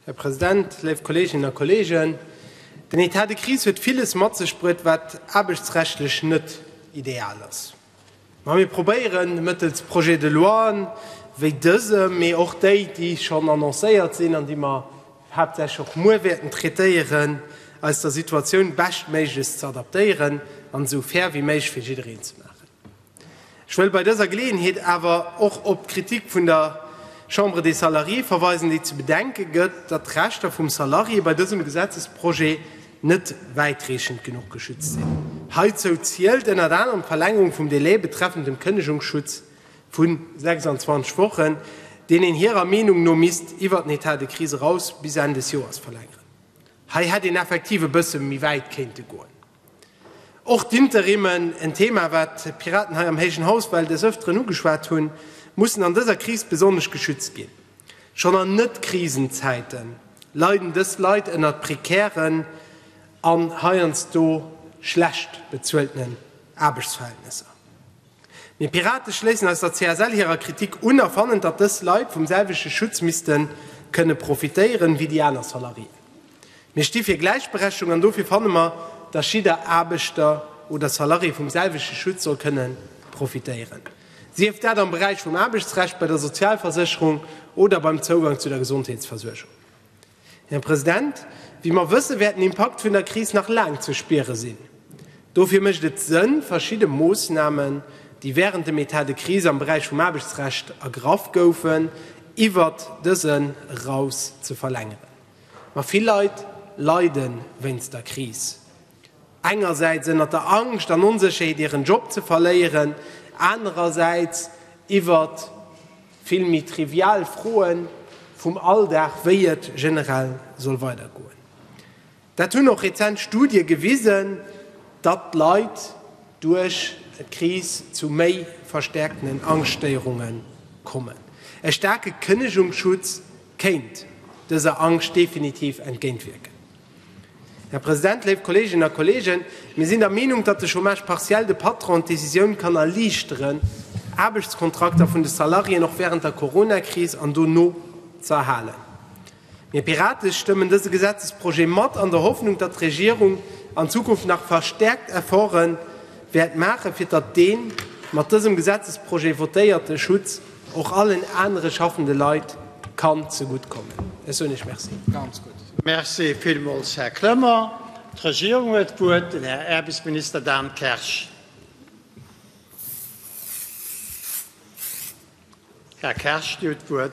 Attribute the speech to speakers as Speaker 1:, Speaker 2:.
Speaker 1: Här President, léif Kolleeginnen a Kolleegen, den État de crise huet villes mat sech bruet, wat aarbechtsrechtlech net ideal ass. Ma mir probéieren mëttels Projets de loien wéi dësem, mee och déi, déi schonn annoncéiert sinn an déi mer haaptsächlech och muer wäerten traitéieren, eis der Situatioun beschtméiglechst ze adaptéieren an esou fair wéi méiglech fir jiddereen ze maachen. Ech wëll bei dëser Geleeënheet awer och op d'Kritik vun der Chambre des Salariés verweisen, déi ze bedenke gëtt, datt d'Rechter vum Salarié bei dësem Gesetzesprojet net wäitreechend genuch geschützt sinn. Heizou zielt ënnert anerem d'Verlängerung vum Delai betreffend dem Kënnegungsschutz vu 26 Wochen, deen een hirer Meenung no misst iwwer den Etat de crise eraus bis Enn des Joers verlängeren. Hei hätt een effektiv e bësse méi wäit kéinte goen. Och d'Interimen, en Thema wat d'Piraten hei am héijen Haus well des Öfteren ugeschwat hunn, mussen an dëser Kris besonnesch geschützt ginn. Schonn an Net-Krisenzäite leiden dës Leit ënnert prekären an heiansdo schlecht bezueltenen Aarbechtsverhältnesser. Mir Pirate schléissen eis der CSL hirer Kritik un a fannen, datt dës Leit vum selwechte Schutz misste kënne profitéieren, wéi déi aner Salariéen. Mir sti fir Gläichberechtigung an dofir fanne mer, datt jidder Aarbechter oder Salarié vum selwechte Schutz soll kënne profitéieren, sief dat am Beräich vum Aarbechtsrecht, bei der Sozialversécherung oder beim Zougang zu der Gesondheetsversuergung. Här President, wéi mer wëssen, wäert den Impakt vun der Kris nach laang ze spiere sinn. Dofir mécht et Sënn, verschidde Moosnamen, déi während dem Etat de crise am Beräich vum Aarbechtsrecht ergraff goufen, iwwert dësen eraus ze verlängeren. Ma vill Leit leide wéinst der Kris. Engersäits ënnert der Angscht an Onsécherheet hiren Job ze verléieren, anerersäits iwwert vill méi trivial Froe vum Alldag, wéi et generell soll weidergoen. Dat hunn och rezent Studie gewisen, datt d'Leit duerch d'Kris zu méi verstäerkten Angschtstéierunge kommen. E staarke Kënnegungsschutz kéint dëser Angscht definitiv entgéintwierken. Här President, léif Kolleeginnen a Kolleegen, mir sinn der Meenung, datt de Chômage partiel de Patronen d'Decisioun kann erliichteren, Aarbechtskontrakter vun de Salariéen och während der Coronakris an dono ze erhalen. Mir Pirate stëmmen dëse Gesetzesprojet mat an der Hoffnung, datt d'Regierung an Zukunft nach verstärkt Efforte wäert maachen, fir datt dee mat dësem Gesetzesprojet votéierte Schutz och allen anere schaffende Leit kann zegutt kommen. Ech soen Iech Merci.
Speaker 2: Merci villmools, Här Clement. D'Regierung huet d'Wuert, den Här Aarbechtsminister Dan Kersch. Här Kersch, dir hutt d'Wuert.